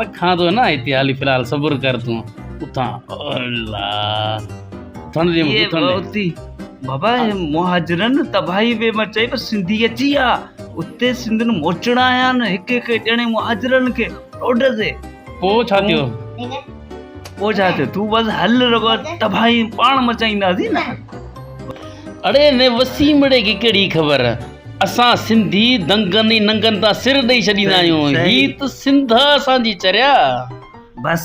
رکان ٿو نه هتي هالي في الحال صبر ڪر تون اٿان الا ٿن دي مون ٿن اتي بابا هي مهاجرن تباهي وي ما چي بس سنڌي اچي آ اتي سنڌن موچڻا آيا نه هڪ هڪ ڄڻي مهاجرن کي روڊ تي پو ڇا ٿيو پو ڇا ٿيو تو بس هل رگو تباهي پاڻ مچائينداسي نه اڙي نه وسيمڙي کي ڪهڙي خبر اسان سنڌي دنگن ۽ ننگن تان سر ڏئي ڇڏيندا آهيون هي ته سنڌ آ اسان جي چريا بس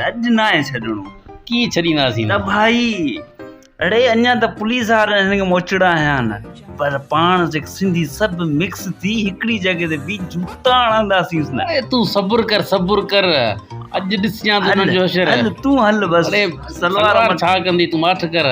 اڄ ناهي ڇڏڻو ڪيئن ڇڏينداسين ته ڀائي اڙي اڃان ته پوليس وارن هن کي موچڙا هنيا نه پر پاڻ جيڪ سنڌي سڀ مڪس ٿي هڪڙي جڳهه تي بي جوتا هڻنداسين نه اي تون صبر ڪر صبر ڪر اڄ ڏسجان ته انهن جو حشر هل تون هل بس سلوار ڇا ڪندي تون ماٺ ڪر